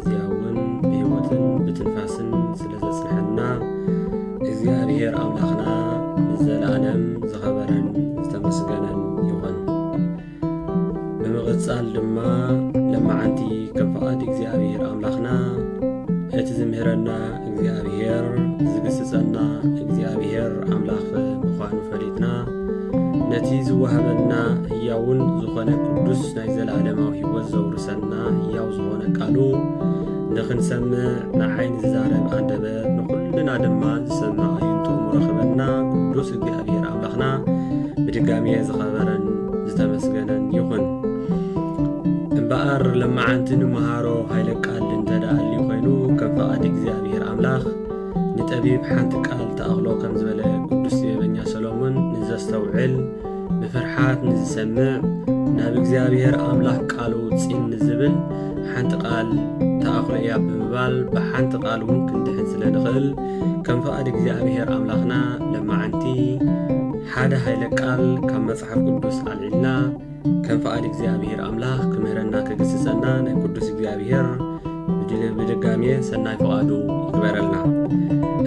እዚኣ እውን ብህይወትን ብትንፋስን ስለ ዘጽንሐና እግዚኣብሔር ኣምላኽና ንዘለዓለም ዝኸበረን ዝተመስገነን ይኹን። ብምቕጻል ድማ ለማዓንቲ ከም ፍቓድ እግዚኣብሔር ኣምላኽና እቲ ዝምህረና እግዚኣብሔር ዝግስጸና እግዚኣብሔር ኣምላኽ ምዃኑ ፈሊጥና ነቲ ዝወሃበና ህያውን ዝኾነ ቅዱስ ናይ ዘለኣለማዊ ህይወት ዘውርሰና ህያው ዝኾነ ቃሉ ንኽንሰምዕ ንዓይ ንዝዛረብ ኣንደበት ንኹልና ድማ ዝሰምዕ ኣዩንቱ ምረኽበና ቅዱስ እግዚኣብሔር ኣምላኽና ብድጋሜ ዝኸበረን ዝተመስገነን ይኹን። እምበኣር ለማዓንቲ ንመሃሮ ሃይለ ቃል እንተደኣሊ ኮይኑ ከም ፈቓድ እግዚኣብሔር ኣምላኽ ንጠቢብ ሓንቲ ቃል ተኣኽሎ ከም ዝበለ ቅዱስ ጥበበኛ ሰሎሞን ንዘስተውዕል ብፍርሓት ንዝሰምዕ ናብ እግዚኣብሔር ኣምላኽ ቃሉ ፂን ንዝብል ሓንቲ ቃል ተኣኽሎ እያ ብምባል ብሓንቲ ቃል እውን ክንድሕን ስለ ንኽእል ከም ፍቓድ እግዚኣብሔር ኣምላኽና ለማዓንቲ ሓደ ሃይለ ቃል ካብ መጽሓፍ ቅዱስ ኣልዒልና ከም ፍቓድ እግዚኣብሔር ኣምላኽ ክምህረና ክግስጸና ናይ ቅዱስ እግዚኣብሔር ብድጋሜ ሰናይ ፍቓዱ ይግበረልና።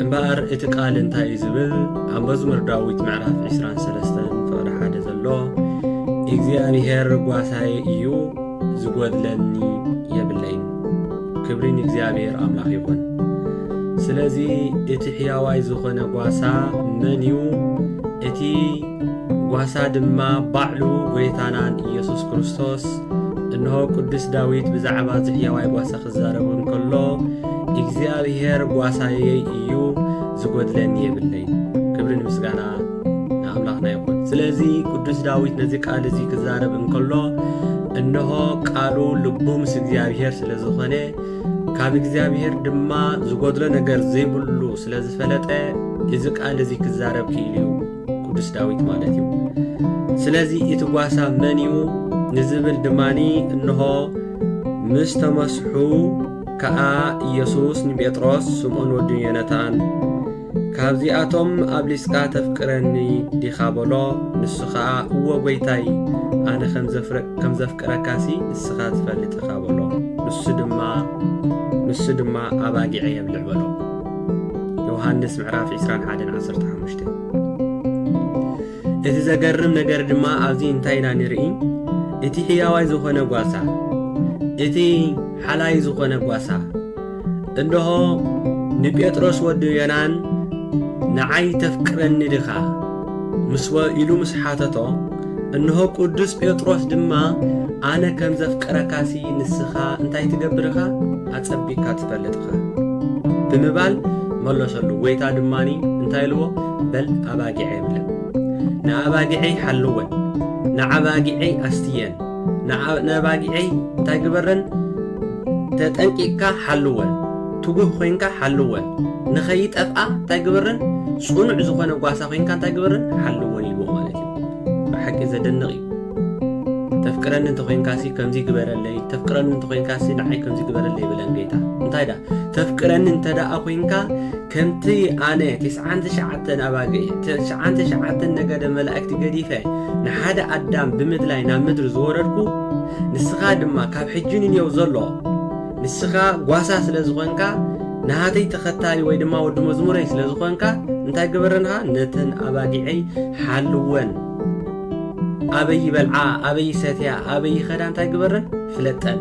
እምበኣር እቲ ቃል እንታይ እዩ ዝብል ኣብ መዝሙር ዳዊት ምዕራፍ 23 ፍቕዲ ሓደ ዘሎ እግዚኣብሔር ጓሳዬ እዩ ዝጎድለኒ የብለይን። ክብሪ ንእግዚኣብሔር ኣምላኽ ይኹን። ስለዚ እቲ ሕያዋይ ዝኾነ ጓሳ መን እዩ? እቲ ጓሳ ድማ ባዕሉ ጐይታናን ኢየሱስ ክርስቶስ እንሆ ቅዱስ ዳዊት ብዛዕባ እዚ ሕያዋይ ጓሳ ክዛረብ እንከሎ እግዚኣብሔር ጓሳየይ እዩ ዝጐድለኒ የብለይ ክብሪ ንምስጋና ንኣምላኽና ይኹን ስለዚ ቅዱስ ዳዊት ነዚ ቃል እዚ ክዛረብ እንከሎ እንሆ ቃሉ ልቡ ምስ እግዚኣብሔር ስለ ዝኾነ ካብ እግዚኣብሔር ድማ ዝጐድሎ ነገር ዘይብሉ ስለ ዝፈለጠ እዚ ቃል እዚ ክዛረብ ክኢሉ እዩ ቅዱስ ዳዊት ማለት እዩ። ስለዚ እቲ ጓሳ መን እዩ ንዝብል ድማኒ እንሆ ምስ ተመስሑ ከኣ ኢየሱስ ንጴጥሮስ ስምዖን ወዲ ዮነታን ካብዚኣቶም ኣብሊጽካ ተፍቅረኒ ዲኻ በሎ ንሱ ኸኣ እወ ጐይታይ ኣነ ከም ዘፍቅረካሲ ንስኻ ትፈልጥ ኢኻ በሎ ንሱ ድማ ንሱ ድማ ኣባጊዐ የብልዕ በሎ ዮሃንስ ምዕራፍ 21 15 እቲ ዘገርም ነገር ድማ ኣብዚ እንታይ ኢና ንርኢ እቲ ሕያዋይ ዝኾነ ጓሳ እቲ ሓላይ ዝኾነ ጓሳ እንሆ ንጴጥሮስ ወዲ ዮናን ንዓይ ተፍቅረኒ ድኻ ምስ ኢሉ ምስ ሓተቶ እንሆ ቅዱስ ጴጥሮስ ድማ ኣነ ከም ዘፍቅረካሲ ንስኻ እንታይ ትገብርኻ ኣጸቢካ ትፈልጥ እኻ ብምባል መሎሰሉ ጎይታ ድማ እንታይ ኢልዎ በል ኣባጊዐይ ብለን ንኣባጊዐይ ሓልወን ንኣባጊዐይ ኣስትየን ንኣባጊዐይ እንታይ ግበረን ተጠንቂቅካ ሓልወን ትጉህ ኮይንካ ሓልወን ንኸይጠፍኣ እንታይ ግበረን ጽኑዕ ዝኾነ ጓሳ ኮይንካ እንታይ ግበረን ሓልወን ኢልዎ ማለት እዩ ብሓቂ ዘደንቕ እዩ ተፍቅረኒ እንተኾይንካሲ ከምዚ ግበረለይ ተፍቅረኒ እንተኾይንካሲ ንዓይ ከምዚ ግበረለይ ይብለን ጌታ እንታይ ዳ ተፍቅረኒ እንተ ደኣ ኮንካ ከምቲ ኣነ ትስዓን ትሽዓተን ኣባግዒ ትስዓን ትሽዓተን ነገደ መላእክቲ ገዲፈ ንሓደ ኣዳም ብምድላይ ናብ ምድሪ ዝወረድኩ ንስኻ ድማ ካብ ሕጂ ንንየው ዘሎ ንስኻ ጓሳ ስለ ዝኾንካ ንሃተይ ተኸታሊ ወይ ድማ ወዲ መዝሙረይ ስለ ዝኾንካ እንታይ ግበረንኻ ነተን ኣባጊዐይ ሓልወን ኣበይ ይበልዓ ኣበይ ይሰትያ ኣበይ ይኸዳ እንታይ ግበረን ፍለጠን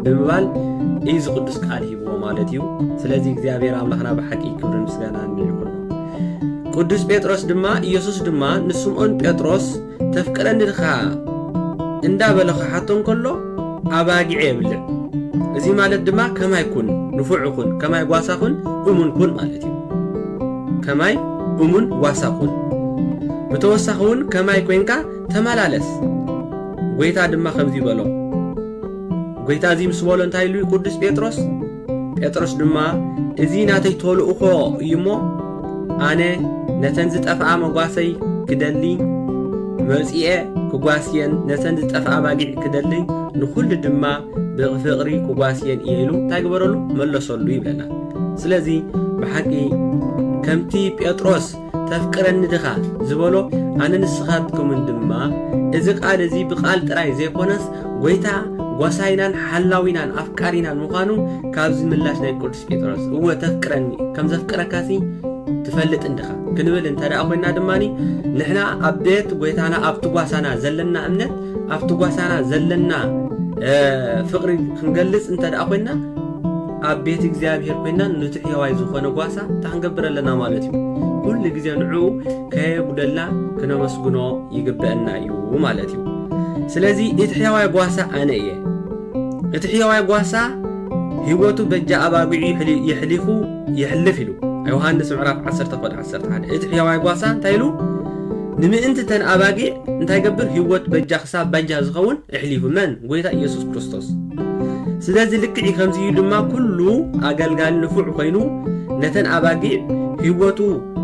ብምባል እዩ እዚ ቅዱስ ቃል ሂብዎ ማለት እዩ ስለዚ እግዚኣብሔር ኣምላኽና ብሓቂ ክብርን ምስጋናን ይኹኖ ቅዱስ ጴጥሮስ ድማ ኢየሱስ ድማ ንስምዖን ጴጥሮስ ተፍቅረኒ ድኻ እንዳበለ ክሓቶ እንከሎ ኣባጊዕ የብልን እዚ ማለት ድማ ከማይ ኩን ንፉዕ ኩን ከማይ ጓሳ ኩን እሙን ኩን ማለት እዩ ከማይ እሙን ጓሳ ኩን ብተወሳኺ እውን ከማይ ኮይንካ ተመላለስ ጎይታ ድማ ከምዚ በሎ ጎይታ እዚ ምስ በሎ እንታይ ኢሉ እዩ ቅዱስ ጴጥሮስ ጴጥሮስ ድማ እዚ ናተይ ተልእኾ እዩ እሞ ኣነ ነተን ዝጠፍኣ መጓሰይ ክደሊ መጺኤ ክጓስየን ነተን ዝጠፍኣ ኣባጊዕ ክደሊ ንኹሉ ድማ ብፍቕሪ ክጓስየን እየ ኢሉ እንታይ ግበረሉ መለሰሉ ይብለና ስለዚ ብሓቂ ከምቲ ጴጥሮስ ተፍቅረኒ ድኻ ዝበሎ ኣነ ንስኻትኩምን ድማ እዚ ቃል እዚ ብቃል ጥራይ ዘይኮነስ ጎይታ ጓሳይናን ሓላዊናን ኣፍቃሪናን ምዃኑ ካብዚ ምላሽ ናይ ቅዱስ ጴጥሮስ እወ ተፍቅረኒ ከም ዘፍቅረካሲ ትፈልጥ እንድኻ ክንብል እንተ ደኣ ኮይና ድማ ንሕና ኣብ ቤት ጎይታና ኣብቲ ጓሳና ዘለና እምነት ኣብቲ ጓሳና ዘለና ፍቅሪ ክንገልጽ እንተ ደኣ ኮይና ኣብ ቤት እግዚኣብሔር ኮይና ንትሕየዋይ ዝኾነ ጓሳ እንታይ ክንገብር ኣለና ማለት እዩ? ኩሉ ግዜ ንዕኡ ከየጉደልና ክነመስግኖ ይግበእና እዩ ማለት እዩ። ስለዚ እቲ ሕያዋይ ጓሳ ኣነ እየ። እቲ ሕያዋይ ጓሳ ህይወቱ በጃ ኣባጊዑ የሕሊፉ የሕልፍ ኢሉ ዮሃንስ ምዕራፍ 10 ኮድ 11 እቲ ሕያዋይ ጓሳ እንታይ ኢሉ ንምእንቲ ተን ኣባጊዕ እንታይ ገብር ህይወት በጃ ክሳብ ባጃ ዝኸውን እሕሊፉ መን ጎይታ ኢየሱስ ክርስቶስ ስለዚ ልክዕ ከምዚ እዩ ድማ ኩሉ ኣገልጋሊ ንፉዕ ኮይኑ ነተን ኣባጊዕ ህይወቱ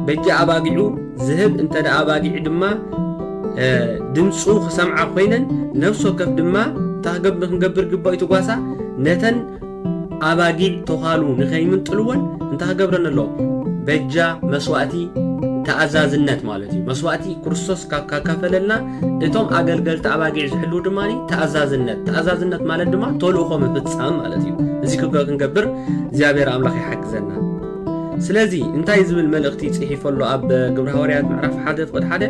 በጃ ኣባጊዑ ዝህብ እንተ ኣባጊዕ ድማ ድምፁ ክሰምዓ ኮይነን ነፍሲ ወከፍ ድማ ታገብ ንክንገብር ግባእ ትጓሳ ነተን ኣባጊዕ ተዃሉ ንከይምንጥልወን እንታይ ክገብረን ኣለዎ በጃ መስዋእቲ ተኣዛዝነት ማለት እዩ መስዋእቲ ክርስቶስ ካብ ካካፈለልና እቶም ኣገልገልቲ ኣባጊዕ ዝሕልዉ ድማ ተኣዛዝነት ተኣዛዝነት ማለት ድማ ተልእኾ ምፍፃም ማለት እዩ እዚ ክብረ ክንገብር እግዚኣብሔር ኣምላኽ ይሓግዘና ስለዚ እንታይ ዝብል መልእኽቲ ፅሒፎ ኣሎ ኣብ ግብረ ሃዋርያት ምዕራፍ ሓደ ፍቕድ ሓደ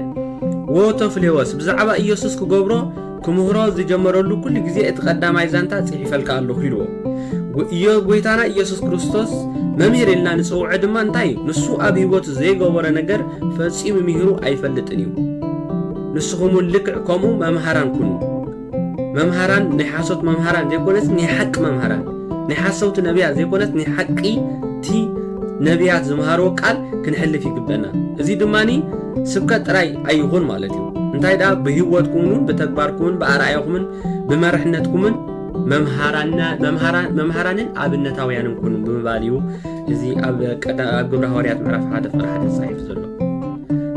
ወተፍሌወስ ብዛዕባ ኢየሱስ ክገብሮ ክምህሮ ዝጀመረሉ ኩሉ ግዜ እቲ ቀዳማይ ዛንታ ፅሒፈልካ ኣለኹ ኢልዎ ኢዮ ጎይታና ኢየሱስ ክርስቶስ መምህር ኢልና ንፅውዐ ድማ እንታይ እዩ ንሱ ኣብ ህይወቱ ዘይገበረ ነገር ፈጺሙ ሚሂሩ ኣይፈልጥን እዩ። ንስኹም ውን ልክዕ ከምኡ መምሃራን ኩኑ። መምሃራን ናይ ሓሶት መምሃራን ዘይኮነስ ናይ ሓቂ መምሃራን ናይ ሓሰውቲ ነብያት ዘይኮነስ ናይ ሓቂ እቲ ነብያት ዝምሃርዎ ቃል ክንሕልፍ ይግበና። እዚ ድማ ስብከት ጥራይ ኣይኹን ማለት እዩ። እንታይ ደኣ ብህይወትኩምን ብተግባርኩምን ብኣርኣያኹምን ብመርሕነትኩምን መምሃራንን ኣብነታውያንን ኩኑ ብምባል እዩ። እዚ ኣብ ግብረ ሃዋርያት ምዕራፍ ሓደ ፍቅሪ ሓደ ተጻሒፉ ዘሎ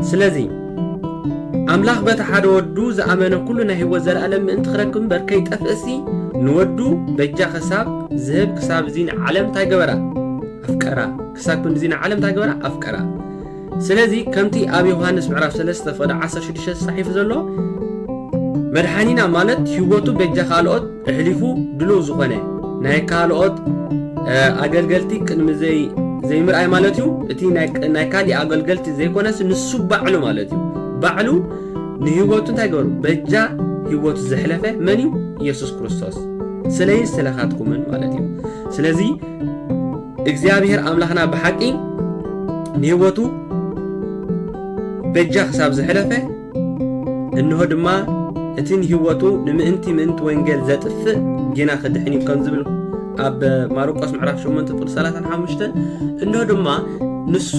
ስለዚ ኣምላኽ በቲ ሓደ ወዱ ዝኣመነ ኩሉ ናይ ህይወት ዘለኣለም ምእንቲ ክረክብ እምበር ከይጠፍእሲ ንወዱ በጃ ክሳብ ዝህብ ክሳብ እዚ ንዓለም እንታይ ገበራ ኣፍቀራ ክሳብ ክንድዚ ንዓለም እንታይ ገበራ ኣፍቀራ ስለዚ ከምቲ ኣብ ዮሃንስ ምዕራፍ ሰለስተ ፍቕዲ ዓሰርተ ሽዱሽተ ተጻሒፉ ዘሎ መድሓኒና ማለት ሂወቱ በጃ ካልኦት እሕሊፉ ድልው ዝኾነ ናይ ካልኦት ኣገልገልቲ ቅድሚ ዘይ ዘይምርኣይ ማለት እዩ እቲ ናይ ካሊእ ኣገልገልቲ ዘይኮነስ ንሱ ባዕሉ ማለት እዩ ባዕሉ ንሂወቱ እንታይ ገሩ በጃ ሂወቱ ዘሕለፈ መን እዩ ኢየሱስ ክርስቶስ ስለይን ስለኻትኩምን ማለት እዩ ስለዚ እግዚኣብሔር ኣምላኽና ብሓቂ ንህይወቱ በጃ ክሳብ ዘሕለፈ እንሆ ድማ እቲ ንህይወቱ ንምእንቲ ምእንቲ ወንጌል ዘጥፍእ ጌና ክድሕን እዩ ከም ዝብል ኣብ ማርቆስ ምዕራፍ 8 ቁጥሪ 35 እንሆ ድማ ንሱ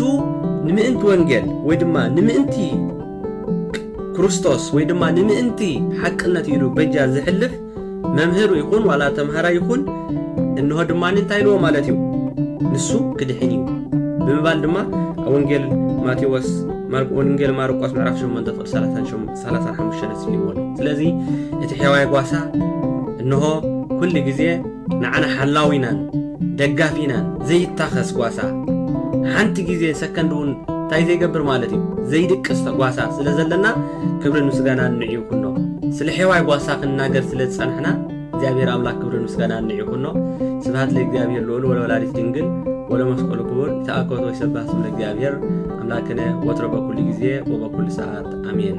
ንምእንቲ ወንጌል ወይ ድማ ንምእንቲ ክርስቶስ ወይ ድማ ንምእንቲ ሓቅነት ኢሉ በጃ ዝሕልፍ መምህር ይኹን ዋላ ተምሃራይ ይኹን እንሆ ድማ እንታይ ኢልዎ ማለት እዩ ንሱ ክድሕን እዩ ብምባል ድማ ኣብ ወንጌል ማቴዎስ ወንጌል ማርቆስ ምዕራፍ 8 ፍቅድ 35 ተስሊዎ ኣሎ ስለዚ እቲ ሕዋይ ጓሳ እንሆ ኩሉ ግዜ ንዓና ሓላዊናን ደጋፊናን ዘይታኸስ ጓሳ ሓንቲ ግዜ ሰከንድ እውን እንታይ ዘይገብር ማለት እዩ ዘይድቅስ ተጓሳ ስለ ዘለና ክብርን ምስጋናን ንዑ ይኹኖ። ስለ ሔዋይ ጓሳ ክንናገር ስለ ዝጸናሕና እግዚኣብሔር ኣምላክ ክብርን ምስጋናን ንዑ ይኹኖ። ስብሃት ለእግዚኣብሔር ልዑል ወለወላዲት ድንግል ወለመስቀሉ ክቡር ይትአኮቶ ይሰባህ ስም ለእግዚኣብሔር ኣምላክነ ወትሮ በኩሉ ጊዜ ወበኩሉ ሰዓት ኣሜን።